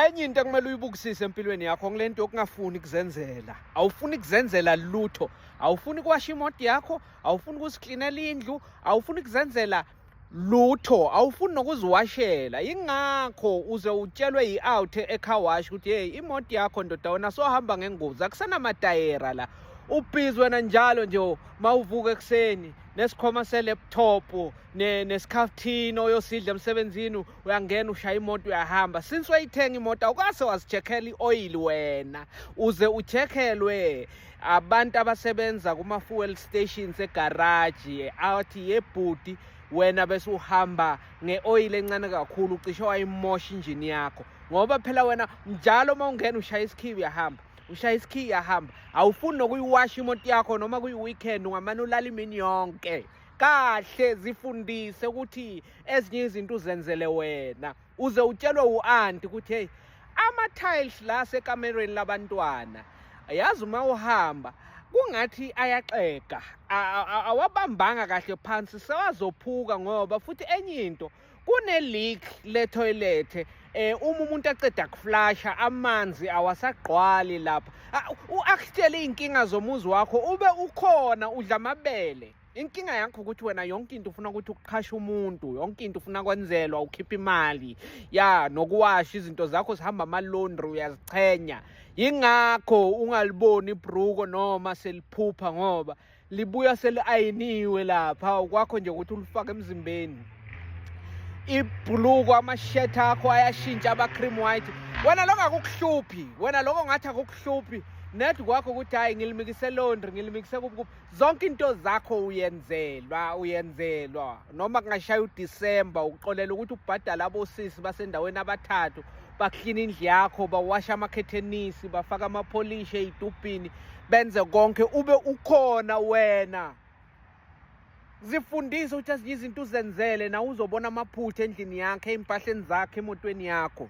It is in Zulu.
enye into ekumele uyibukisise empilweni yakho ngile nto yokungafuni kuzenzela awufuni kuzenzela lutho awufuni kuwasha imoto yakho awufuni kuziklinela indlu awufuni kuzenzela lutho awufuni nokuziwashela yingakho uze utshelwe yi-out ecar wash ukuthi yeyi imoto yakho ndoda wena sohamba ngengozi akusenamatayera la ubhizi wena njalo nje mawuvuka ekuseni nesikhoma seleptop nesikhaftini oyosidla emsebenzini uyangena ushaya imoto uyahamba since wayithenga imoto awukase wazichekhela i-oyili wena uze uchekhelwe abantu abasebenza kuma-fuel stations egaraji athi yebhuti wena bese uhamba nge-oyili encane kakhulu ucishe wayimosha injini yakho ngoba phela wena njalo uma ungena ushaya isikhiyi uyahamba ushaya isikhiyi uyahamba awufuni nokuyiwasha imoto yakho noma kuyi-weekend ungamane ulala imini yonke kahle zifundise ukuthi ezinye izinto uzenzele wena uze utshelwe u-anti ukuthi heyi ama-tiles la sekamerweni labantwana yazi uma uhamba kungathi ayaxega awabambanga kahle phansi sewazophuka ngoba futhi enye into kune-leak lethoyilethe eh uma umuntu aqeda kuflasha amanzi awasagqwali lapha u-akutshele iy'nkinga zomuzi wakho ube ukhona udla amabele inkinga yakho ukuthi wena yonke into ufuna ukuthi ukuqhashe umuntu yonke into ufuna kwenzelwa ukhipha imali ya nokuwasha izinto zakho zihamba amalondri uyazichenya yingakho ungaliboni ibruko noma seliphupha ngoba libuya seli-ayiniwe lapha ukwakho nje ukuthi ulifake emzimbeni ibhuluko amashethi akho ayashintsha aba-cream white wena loko akukuhluphi wena loko ngathi akukuhluphi ned kwakho ukuthi hhayi ngilimikise londri ngilimikise kuphi kuphi zonke into zakho uyenzelwa uyenzelwa noma kungashaya uDisemba ukuxolela ukuthi ubhadala abosisi basendaweni abathathu baklina indlu yakho bawasha amakhethenisi bafaka amapholishi ey'tubhini benze konke ube ukhona wena zifundise ukuthi azinye izinto uzenzele nawe uzobona amaphutha endlini yakhe ey'mpahleni zakhe emotweni yakho